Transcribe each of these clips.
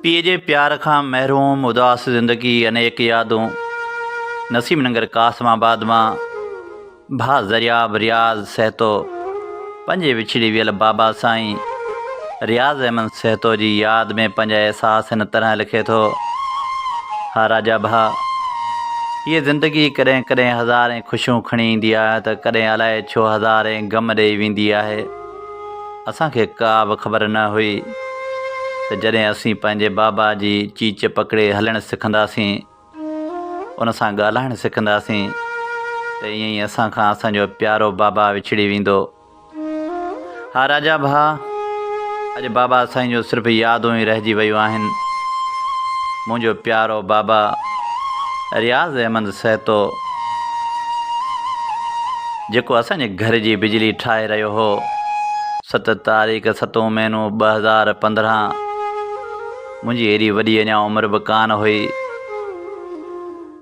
پيء جي پيار کان محروم اداس زندگي انيڪ يادون نسيم ننگر قاسم آباد مان ڀاء زرياب رياض سهتو پنهنجي وڇڙي ويل بابا سائين رياض احمد سهتو جي ياد ۾ پنهنجا احساس هن طرح لکي ٿو، ها راجا ڀاء! هيء زندگي ڪڏهن ڪڏهن هزارين خوشيون کڻي ايندي آهي ته ڪڏهن الائي ڇو هزارين غم ڏيئي ويندي آهي. اسان کي ڪا به خبر نه هئي ته جڏهن اسين پنهنجي بابا جي چيچ پڪڙي هلڻ سکنداسين، ان سان ڳالهائڻ سکنداسين ته ائين ئي اسان کان اسان جو پيارو بابا وڇڙي ويندو. ها راجا ڀاء، اڄ بابا سائين جون صرف يادون ئي رهجي ويون آهن. منهنجو پيارو بابا رياض احمد سهتو، جيڪو اسان جي گهر جي بجلي ٺاهي رهيو هو، ست تاريخ ستون مهينو ٻه هزار پندرهن، منهنجي ايڏي وڏي اڃا عمر به ڪانه هئي.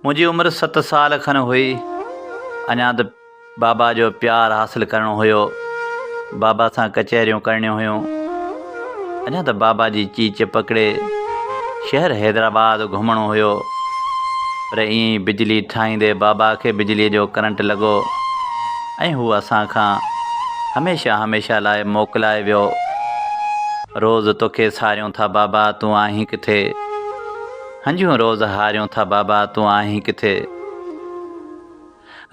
منهنجي عمر ست سال کن هئي. اڃا ته بابا جو پيار حاصل ڪرڻو هيو. بابا سان ڪچهريون ڪرڻيون هيون. اڃا ته بابا جي چيچ پڪڙي شهر حيدرآباد گهمڻو هيو. پر ائين ئي بجلي ٺاهيندي بابا کي بجليء جو ڪرنٽ لڳو. ۽ هو اسان کان هميشه هميشه لاء موڪلائي ويو. روز توکي ساريون ٿا بابا تون آهين ڪٿي؟ هنجون روز هاريون ٿا بابا تون آهين ڪٿي؟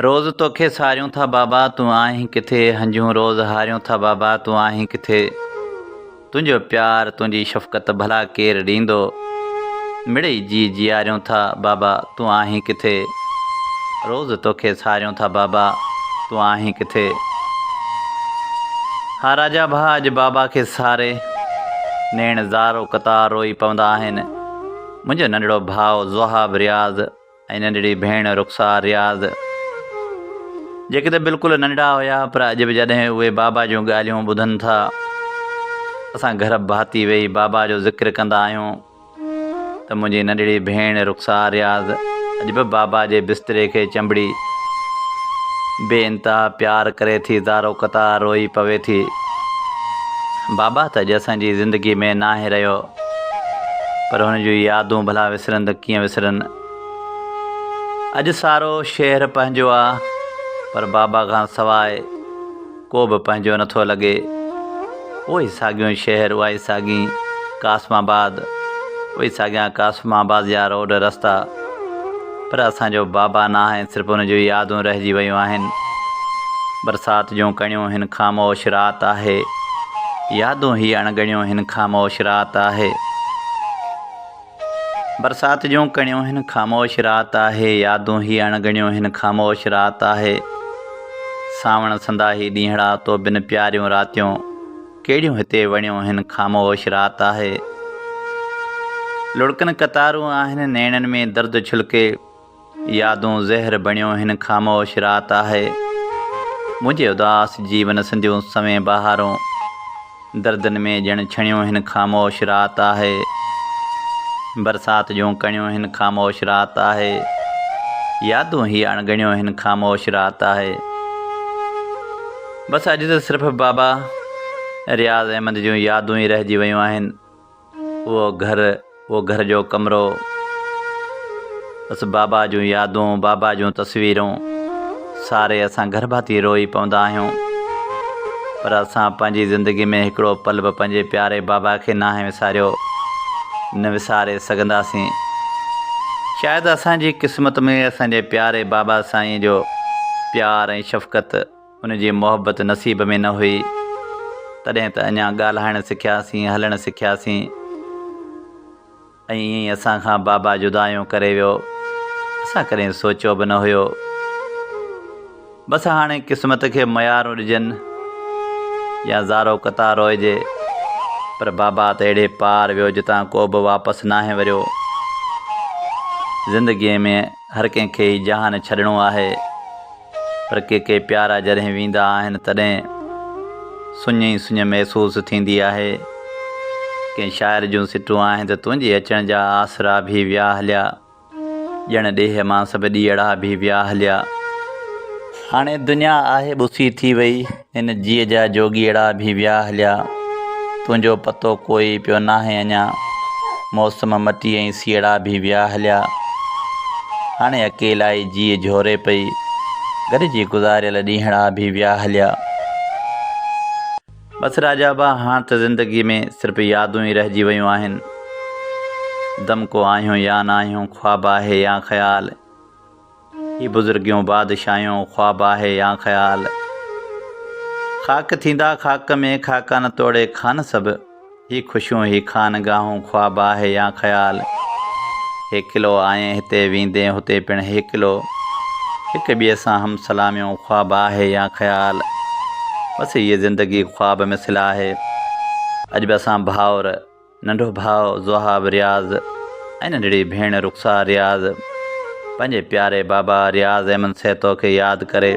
روز توکي ساريون ٿا بابا تون آهين ڪٿي؟ هنجون روز هاريون ٿا بابا تون آهين ڪٿي؟ تنهنجو پيار تنهنجي شفقت ڀلا ڪير ڏيندو مڙئي جي جياريون ٿا بابا تون آهين ڪٿي روز توکي ساريون ٿا بابا تون آهين ڪٿي ها راجا ڀا اڄ بابا کي ساري نيڻ زارو قطار روئي پوندا آهن منهنجو ننڍڙو ڀاء زوهاب رياض ۽ ننڍڙي ڀيڻ رخسار رياض جيڪي ته بلڪل ننڍڙا هيا پر اڄ به جڏهن اهي بابا جون ڳالهيون ٻڌن ٿا اسان گهرڀ ڀاتي ويهي بابا جو ذڪر ڪندا آهيون ته منهنجي ننڍڙي ڀيڻ رخسار رياض اڄ به بابا جي بستري کي چنبڙي بي انتها پيار ڪري ٿي زارو قطار روئي پوي ٿي بابا ته اڄ اسان جي زندگي ۾ ناهي رهيو پر هن جون يادون ڀلا وسرن ته ڪيئن وسرن. اڄ سارو شهر پنهنجو آ پر بابا کان سواء ڪو به پنهنجو نه ٿو لڳي. اهو ئي ساڳيون شهر اها ئي ساڳين قاسم آباد اهي ساڳيان قاسم آباديا روڊ رستا. پر اسان جو بابا ناهي صرف ان جون يادون رهجي ويون آهن برسات جون ڪڻيون هن خاموش رات آهي يادون هي اڻڳڻيون هن خاموش رات آهي برسات جون ڪڻيون هن خاموش رات آهي يادون هي اڻڳڻيون هن خاموش رات آهي ساوڻ سندا هي ڏينهڙا تو بن پياريون راتيون ڪهڙيون هتي وڻيون هن خاموش رات آهي لڙڪن قطارون آهن نيڻن ۾ درد ڇلڪي يادون زهر بڻيون هن خاموش رات آهي منهنجي اداس جيون سنديون سوين بهارون دردن ۾ ڄڻ ڇڻيون هن خاموش رات آهي برسات جون ڪڻيون هن خاموش رات آهي يادون هي اڻ ڳڻيون هن خاموش رات آهي بس اڄ ته صرف بابا رياض احمد جون يادون ئي رهجي ويون آهن اهو گهر اهو گهر جو ڪمرو بس بابا جون يادون بابا جون تصويرون ساري اسان گهر ڀاتي روئي پوندا آهيون پر اسان پنهنجي زندگي ۾ هڪڙو پل به پنهنجي پياري بابا کي ناهي وساريو نه وساري سگهنداسين شايد اسان جي قسمت ۾ اسان جي پياري بابا سائين جو پيار ۽ شفقت ان جي محبت نصيب ۾ نه هئي، تڏهن ته اڃا ڳالهائڻ سکياسين، هلڻ سکياسين ۽ ائين ئي اسان کان بابا جدايون ڪري ويو. اسان ڪڏهن سوچيو به نه هيو. بس هاڻي قسمت کي ميارون ڏجن يا زارو قطار روئجي، پر بابا ته اهڙي پار ويو جتان ڪو به واپس ناهي وريو. زندگيء ۾ هر ڪنهن کي هي جهان ڇڏڻو آهي پر ڪي ڪي پيارا جڏهن ويندا آهن تڏهن سڃ ئي سڃ محسوس ٿيندي آهي. ڪنهن شاعر جون سٽون آهن ته تنهنجي اچڻ جا آسرا ڀي ويا هليا ڄڻ ڏيهه مان سڀ ڏيئڙا ڀي ويا هليا. هاڻي دنيا آهي ٻسي ٿي وئي. ان جيء جا جوڳيئڙا ڀي ويا هليا، تنهنجو پتو ڪوئي پيو ناهي اڃا، موسم مٽي ۽ سيئڙا ڀي ويا هليا، هاڻي اڪيلائي جيء جهوري پئي، گڏجي گذاريل ڏينهڙا ڀي ويا هليا. بس راجا ڀاء هاڻ ته زندگي ۾ صرف يادون ئي رهجي ويون آهن، دمڪو آهيون يا ناهيون، خواب آهي يا خيال، هي بزرگيون بادشاهيون خواب آهي يا خيال خاڪ ٿيندا خاڪ ۾ خاڪان توڙي خان سڀ هي خوشيون هي خانگاهون خواب آهي يا خيال هيڪلو آئين هتي ويندين هتي پڻ هيڪلو هڪ ٻئي سان هم سلاميون خواب آهي يا خيال بس هيء زندگي خواب مثل آهي اڄ به اسان ڀائر ننڍو ڀاء زوهاب رياض ۽ ننڍڙي ڀيڻ رخسار رياض پنهنجي پياري بابا رياض احمد سهتو کي ياد ڪري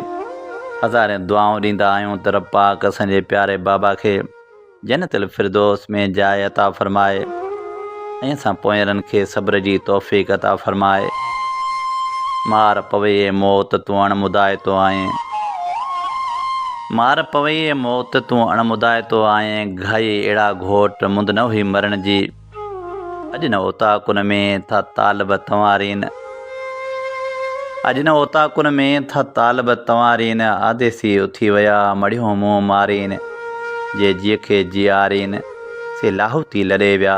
هزارين دعائون ڏيندا آهيون ته رب پاڪ اسان جي پياري بابا کي جنت الفردوس ۾ جاء عطا فرمائي ۽ اسان پوئيرن کي صبر جي توفيق عطا فرمائي مار پوي اي موت تون اڻ مدائتو آهين. مار پوي اي موت تون اڻ مدائتو آئين گهائي اهڙا گهوٽ مند نه هئي مرڻ جي اڄ نه اوطاقن ۾ ٿا طالب تنوارين اڄ نه اوطاقن ۾ ٿا طالب تنوارين آديسي اٿي ويا مڙهيون منهن مارين جي جيکي جيارين سي لاهوتي لڏي ويا.